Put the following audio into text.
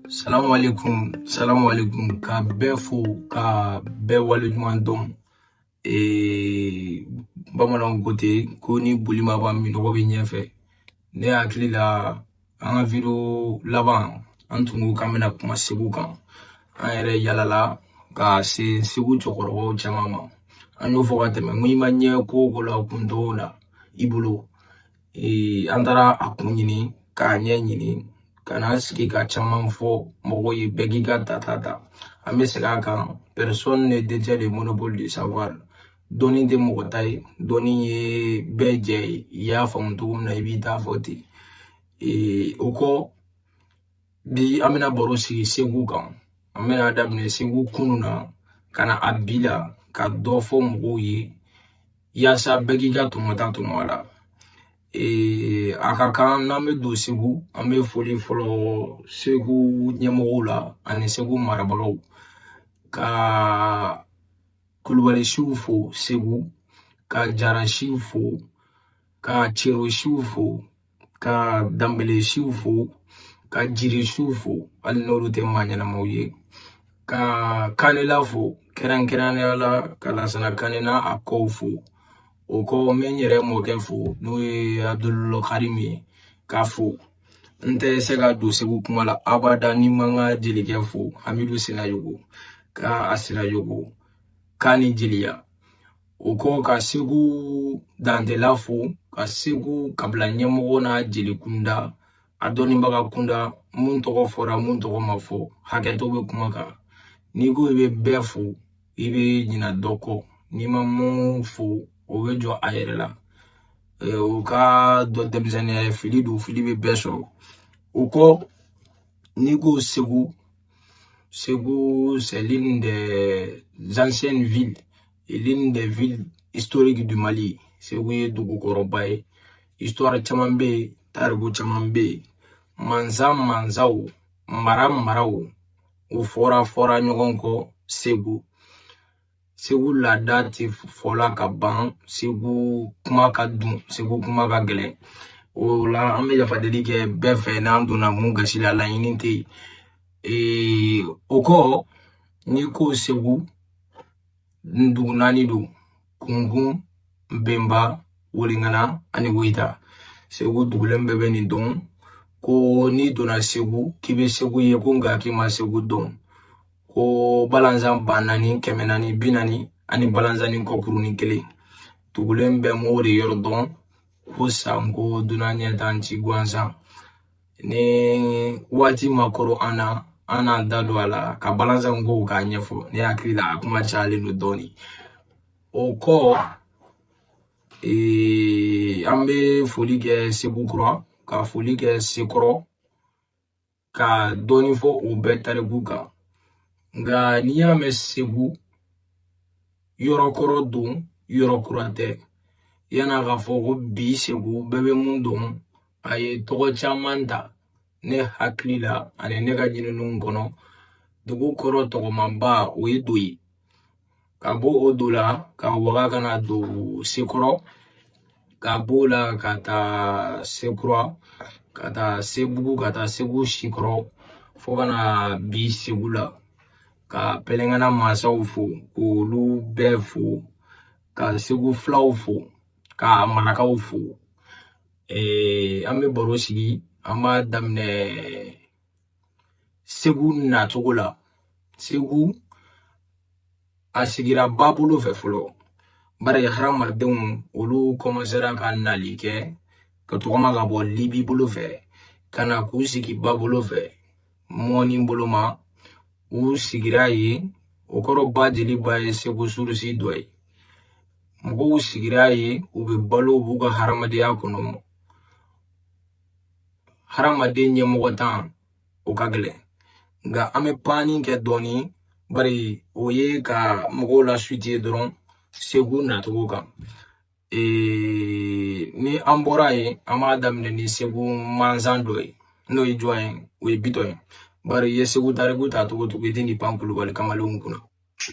salamu aleykum salamu aleykum ka bɛɛ fo ka bɛɛ waleɲuman dɔn bamananw ko ten ko ni boli ma ban minɔgɔ bɛ ɲɛfɛ ne hakili la an ka video laban an tun ko k'an bɛna kuma segu kan an yɛrɛ yalala ka se segu cɛkɔrɔbaw caman ma an y'o fɔ ka tɛmɛ n ko i ma ɲɛ ko ko la kun dɔw la i bolo an taara a kun ɲini k'a ɲɛ ɲini ka na sigi ka caman fɔ mɔgɔw ye bɛɛ k'i ka tata ta an bɛ segin a kan personne ne détient le monopole du savoir dɔnni tɛ mɔgɔ ta ye dɔnni ye bɛɛ jɛ ye i y'a faamu cogo min na i b'i ta fɔ ten o kɔ bi an bɛna baro sigi segu kan an bɛna daminɛ segu kunun na ka na a bi la ka dɔ fɔ mɔgɔw ye yaasa bɛɛ k'i ka tɔmɔta tɔmɔ a la ee a ka kan n'an bɛ don segu an bɛ foli fɔlɔ segu ɲɛmɔgɔw la ani segu marabagaw ka kulubali siw fo segu ka jarasiw fo ka cerosiw fo ka danbele siw fo ka jire siw fo hali n'olu tɛ maa ɲɛnamaw ye ka kanela fo kɛrɛnkɛrɛnnenya la ka lasana kane ni a kɔw fo o kɔ n bɛ n yɛrɛ mɔkɛ fo n'o ye abdul karim ye k'a fo n tɛ se ka don segu kuma la abada ni n ma n ka jelikɛ fo hamidu sinayogo ka a sinayogo k'a ni jeliya O kɔ ka segu dantela fo ka segu kabila ɲɛmɔgɔ n'a jeli kunda a dɔnnibaga kunda mun tɔgɔ fɔra mun tɔgɔ ma fɔ hakɛto bɛ kuma kan n'i ko i bɛ bɛɛ fo i bɛ ɲina dɔ kɔ n'i ma mun fo o bɛ jɔ a yɛrɛ la u k'a dɔn denmisɛnninya ye fili don fili bɛ bɛɛ sɔrɔ o kɔ n'i ko segu segu c'est l'une des anciennes villes l'une des villes historiques du Mali Segu ye dugu kɔrɔba ye histoire caman bɛ yen tariku caman bɛ yen mansa mansaw mara maraw u fɔra fɔra ɲɔgɔn kɔ Segu Segu laada tɛ fɔla ka ban Segu kuma ka dun Segu kuma ka gɛlɛn o la an bɛ yafa deli kɛ bɛɛ fɛ n'an donna mun gasi la laɲini tɛ yen o kɔ n'i ko Segu dugu naani don kunkun bɛnba weliŋana ani woyita segu dugulen bɛɛ bɛ nin dɔn ko n'i donna segu k'i bɛ segu ye ko nka k'i ma segu dɔn ko balanzan ba naani kɛmɛ naani bi naani ani balanzannin kɔkurunnin kelen dugulen bɛɛ m'o de yɔrɔ dɔn ko sanko dunan ɲɛ tan ci gansan ni waati ma koro an na an n'an da don a la ka balanzan kow k'a ɲɛfɔ ne hakili la a kuma cayalen don dɔɔnin o kɔ ee, an bɛ foli kɛ segu kura ka foli kɛ sekɔrɔ ka dɔɔnin fɔ o bɛɛ tariku kan nka n'i y'a mɛn segu yɔrɔ kɔrɔ don yɔrɔ kura tɛ yan'a ka fɔ ko bi segu bɛɛ bɛ mun dɔn a ye tɔgɔ caman ta ne hakili la ani ne ka ɲininiw kɔnɔ dugu kɔrɔ tɔgɔmaba o ye do ye ka bɔ o do la ka waga ka na don sekɔrɔ ka b'o la ka taa sekura ka taa sebugu ka taa segu sikɔrɔ fo ka na bi segu la ka pɛlɛnkana mansaw fo k'olu bɛɛ fo ka segu filaw fo ka marakaw fo ee, an bɛ baro sigi an b'a daminɛ segu nacogo la segu a sigira ba bolo fɛ fɔlɔ bari hadamadenw olu kɔmansera ka nali kɛ ka tɔgɔma ka bɔ libi bolo fɛ ka na k'u sigi ba bolo fɛ mɔni bolo ma u sigira yen o kɔrɔ ba jeliba ye segu surusi dɔ ye mɔgɔw sigira yen u bɛ balo b'u ka hadamadenya kɔnɔ hadamaden ɲɛmɔgɔntan o ka gɛlɛn nka an bɛ panni kɛ dɔɔni bari o ye ka mɔgɔw lasituwe dɔrɔn segu nacogo kan ni an bɔra yen an b'a daminɛ ni segu mansa dɔ ye n'o ye jɔn ye o ye bitɔn ye bari i ye segu tariku ta cogo o cogo i tɛn'i pan kulubali kamalenw kunna